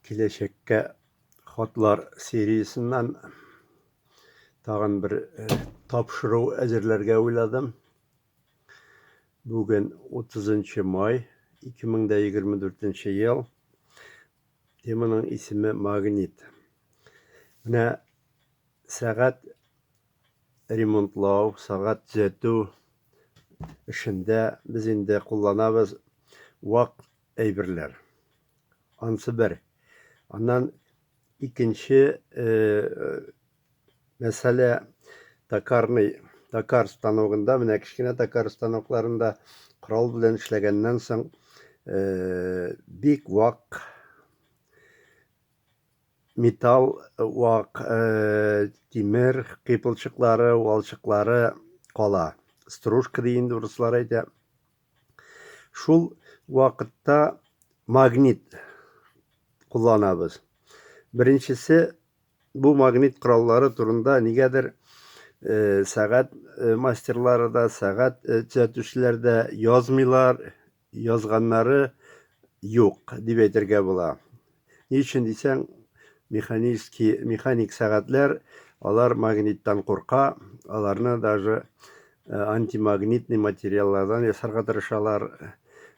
Киләчәккә хатлар сериясеннән тагын бер э, тапшыру әзерләргә уйладым. Бүген 30 май 2024 ел. Теманың исеме магнит. Менә сәгать ремонтлау, сәгать төзәтү эшендә без инде кулланабыз вак әйберләр. Ансы бер. Аннан икенче мәсьәлә токарный, токар станогында, менә кечкенә токар станокларында корал белән эшләгәннән соң бик вак металл вак тимер кыйпылчыклары, валчыклары кала. Стружка ди инде урыслар әйтә. Шул вакытта магнит кулланабыз. Беренчесе бу магнит кораллары турында нигәдер э, сәгать э, мастерлары да, сәгать э, төзәтүчеләр дә язмыйлар, язганнары юк дип әйтергә була. Ни өчен дисәң, механический, механик сәгатьләр, алар магниттан курка, аларны даже э, антимагнитный материаллардан ясарга тырышалар.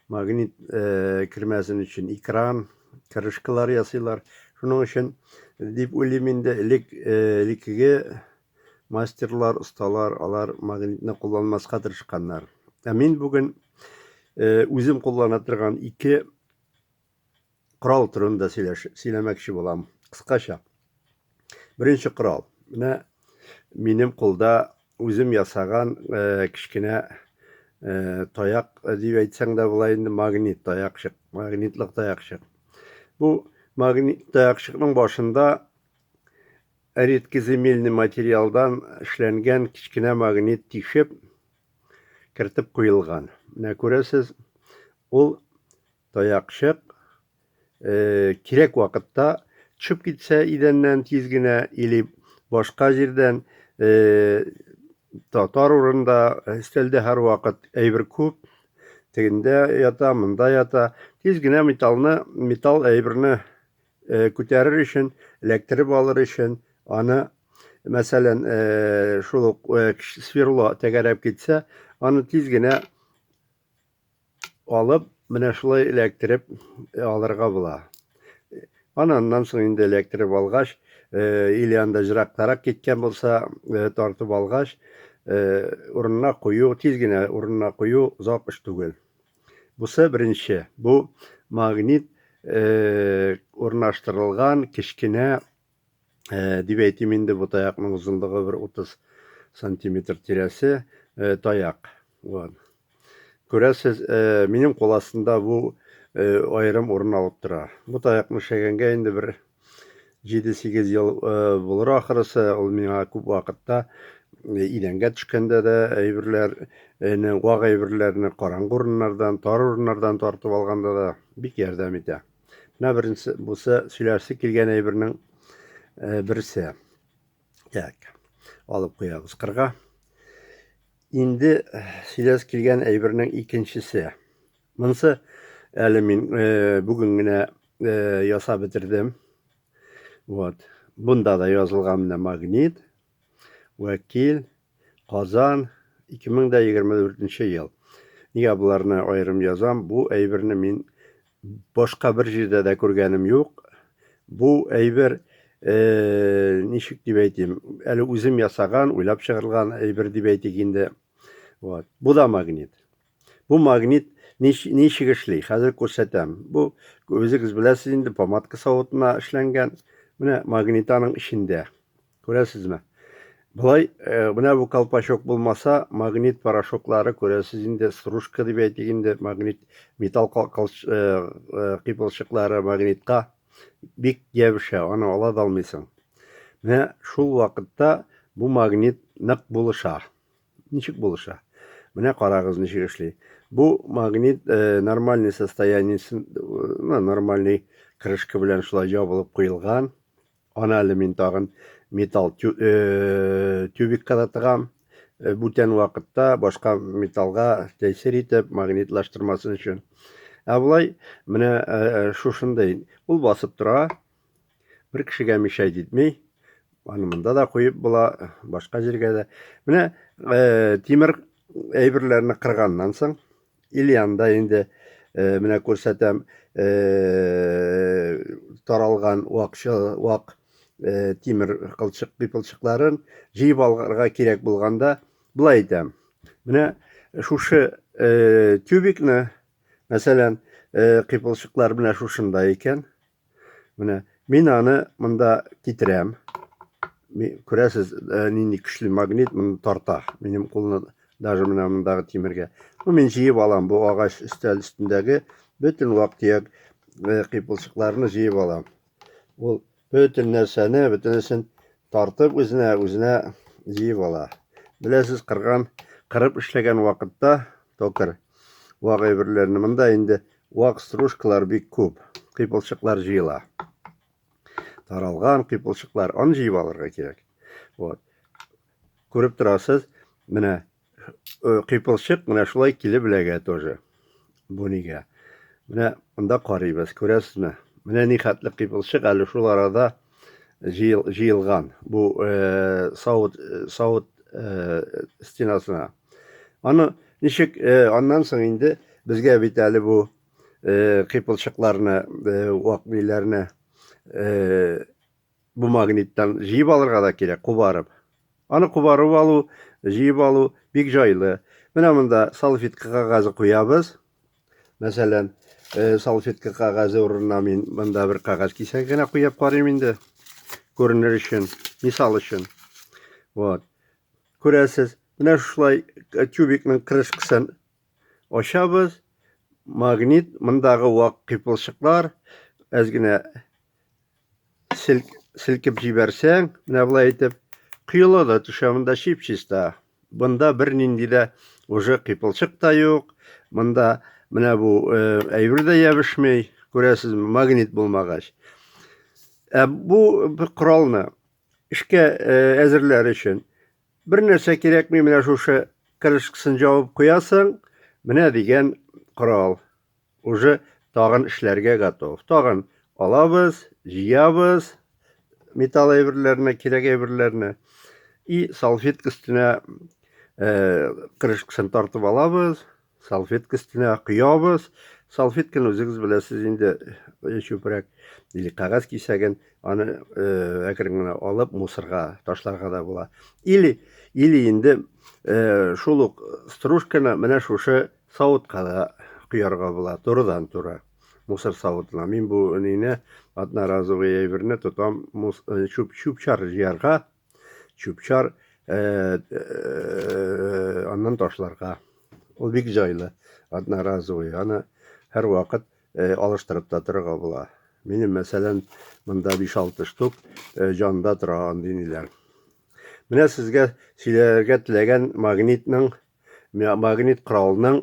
Магнит э, кермәсен өчен экран, крышкалар ясыйлар. Шуның өчен дип уйлыйм инде элек э, элеккеге мастерлар, осталар, алар магнитны кулланмаска тырышканнар. Ә мин бүген э, үзем куллана торган ике корал турында сөйләш, сөйләмәкче булам. Кыскача. Беренче корал. Менә минем кулда үзем ясаган э, кечкенә э, таяк э, дип әйтсәң дә була инде магнит таякчык, магнитлык таякчык. Бу магнит таякчыкның башында редкоземельный материалдан эшләнгән кечкенә магнит тишеп кертеп куелган. Менә күрәсез, ул Таякчык кирәк вакытта төшеп китсә идәннән тиз генә или башка җирдән татар урында өстәлдә һәрвакыт әйбер күп тегендә ята монда ята тиз генә металлны металл әйберне күтәрер өчен эләктереп алыр өчен аны мәсәлән шул ук сверло тәгәрәп китсә аны тиз генә Алып, менә шулай эләктереп алырга була. Аны аннан соң инде эләктереп алгач, или анда җыракларак киткән булса, тартып алгач, урынына кую, тиз генә урынына кую озак эш түгел. Бусы беренче, бу магнит урнаштырылган кечкенә Э, дип әйтим инде бу таякның озынлыгы бер утыз сантиметр тирәсе э, таяк вот күрәсез э, минем кул астында бу аерым урын алып тора бу таякны эшләгәнгә инде бер җиде сигез ел булыр ахрысы ул миңа күп вакытта идәнгә төшкәндә дә әйберләрне вак әйберләрне караңгы урыннардан тар урыннардан тартып алганда да бик ярдәм итә Менә беренче бусы сөйләсе килгән әйбернең э, берсе. Так. Алып куябыз кырга. Инде э, сөйләс килгән әйбернең икенчесе. Монсы әле мин э, бүген генә ясап бетердем. Вот. Бунда да язылган менә магнит. Вәкил, Казан, 2024 ел. Нигә боларны аерым язам? Бу әйберне мин башка бер җирдә дә күргәнем юк. Бу әйбер э, ничек дип әйтим, әле үзем ясаган, уйлап чыгарылган әйбер дип әйтик инде. Вот. Бу да магнит. Бу магнит ничек эшли? Хәзер күрсәтәм. Бу үзегез беләсез инде, помадка савытына эшләнгән. Менә магнитаның эчендә. Күрәсезме? Болай, э, менә бу колпачок булмаса, магнит порошоклары, күрәсез инде, стружка дип әйтик инде, магнит, металл э, э, кыйпылчыклары магнитка бик ябыша, аны ала да алмыйсың. Менә шул вакытта бу магнит нык булыша. Ничек булыша? Менә карагыз ничек эшли. Бу магнит э, нормальный состояниесен, э, ну, нормальный крышка белән шулай ябылып куелган. Аны әле мин тагын металл тюбикка да тыгам. Бүтән вакытта башка металлга тәэсир итеп, магнитлаштырмасын өчен. Ә болай менә шушындый ул басып тора. Бер кешегә мишай җитми. Аны монда да куеп була, башка җиргә дә. Менә тимер әйберләрне кырганнан соң, Ильянда инде э, менә күрсәтәм э, таралган вакчы вак э, тимер кылчык кыйпылчыкларын җыеп алырга кирәк булганда былай итәм. Менә шушы тюбикны, мәсәлән, кыйпылчыклар менә шушында икән. Менә мин аны монда китерәм. Күрәсез, э, нинди көчле магнит моны тарта. Минем кулны даже менә мондагы тимергә. Ну, мин җыеп алам бу агач өстәл өстендәге бөтен вак-төяк э, кыйпылчыкларны җыеп алам. Ул бөтен нәрсәне, бөтенесен тартып үзенә, үзенә җыеп ала. Беләсез, кырган, кырып эшләгән вакытта токар вак әйберләрне монда инде Вак стружкалар бик күп, кыйпылчыклар җыела. Таралган кыйпылчыклар, аны җыеп алырга кирәк. Вот. Күреп торасыз, менә э, кыйпылчык менә шулай килеп эләгә тоже. Бу нигә? Менә монда карыйбыз, күрәсезме? Менә ни хәтле кыйпылчык әле шул арада җыелган. Бу э, савыт э, савыт стенасына. Аны ничек э, аннан соң инде безгә бит әле бу э, кыйпылчыкларны, э, вак бийләрне бу магниттан җыеп алырга да кирәк, кубарып. Аны кубарып алу, җыеп алу бик җайлы. Менә монда салфетка кагазе куябыз. Мәсәлән, салфетка кагазе урынына мин монда бер кагаз кисәк генә куеп карыйм инде. Күренер өчен, мисал өчен. Вот. Күрәсез, менә шулай тюбикның крышкасын ачабыз. Магнит, мондагы вак кыйпылчыклар, әз генә селкеп җибәрсәң, менә болай итеп, коела да төшә, монда чип-чиста. Бында бер нинди дә уже кыйпылчык та юк. Монда менә бу э, әйбер дә ябышмый, күрәсезме, магнит булмагач. Ә бу коралны Эшкә әзерләр өчен бер нәрсә кирәкми, менә шушы крышкасын җавып куясың, менә дигән корал. Уже тагын эшләргә готов. Тагын алабыз, җыябыз металл әйберләрне, кирәк әйберләрне и салфетка өстенә крышкасын тартып алабыз, Салфетка өстенә коябыз. Салфетканы үзегез беләсез инде, э, чүпрәк или кагаз кисәген, аны э, әкрен генә алып мусорга ташларга да була. Или или инде э, шул ук стружканы менә шушы савытка да коярга була, турыдан туры мусор савытына. Мин бу әнине одноразовый әйберне тотам, чүп чүп чар җыярга чүпчар э, э, аннан ташларга ул бик җайлы одноразовый аны һәрвакыт э, алыштырып та торырга була минем мәсәлән монда 5-6 штук җанда тора андый ниләр менә сезгә сөйләргә теләгән магнитның магнит коралның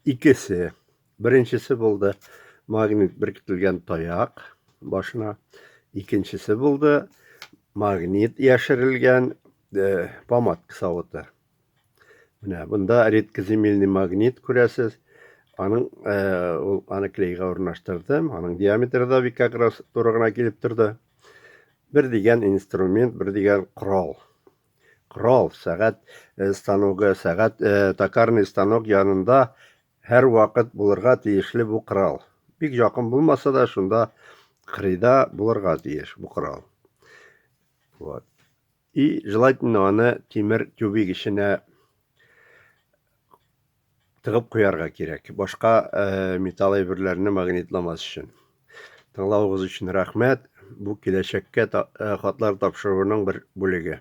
икесе Беренчесе булды магнит беркетелгән таяк башына. Икенчесе булды магнит яшерелгән э, помадка савыты. Менә бунда редкоземельный магнит күрәсез. Аның э, ул аны клейга урнаштырдым. Аның диаметры да бик акрас туры гына килеп торды. Бер дигән инструмент, бер дигән корал. Корал, сәгать э, станогы, сәгать э, токарный станок янында Һәрвакыт булырга тиешле бу корал. Бик якын булмаса да, шунда кырыйда булырга тиеш бу корал. Вот. И желательно аны тимер тюбик эченә тыгып куярга кирәк. Башка э, металл әйберләрне магнитламас өчен. Тыңлавыгыз өчен рәхмәт. Бу киләчәккә э, хатлар тапшыруның бер бүлеге.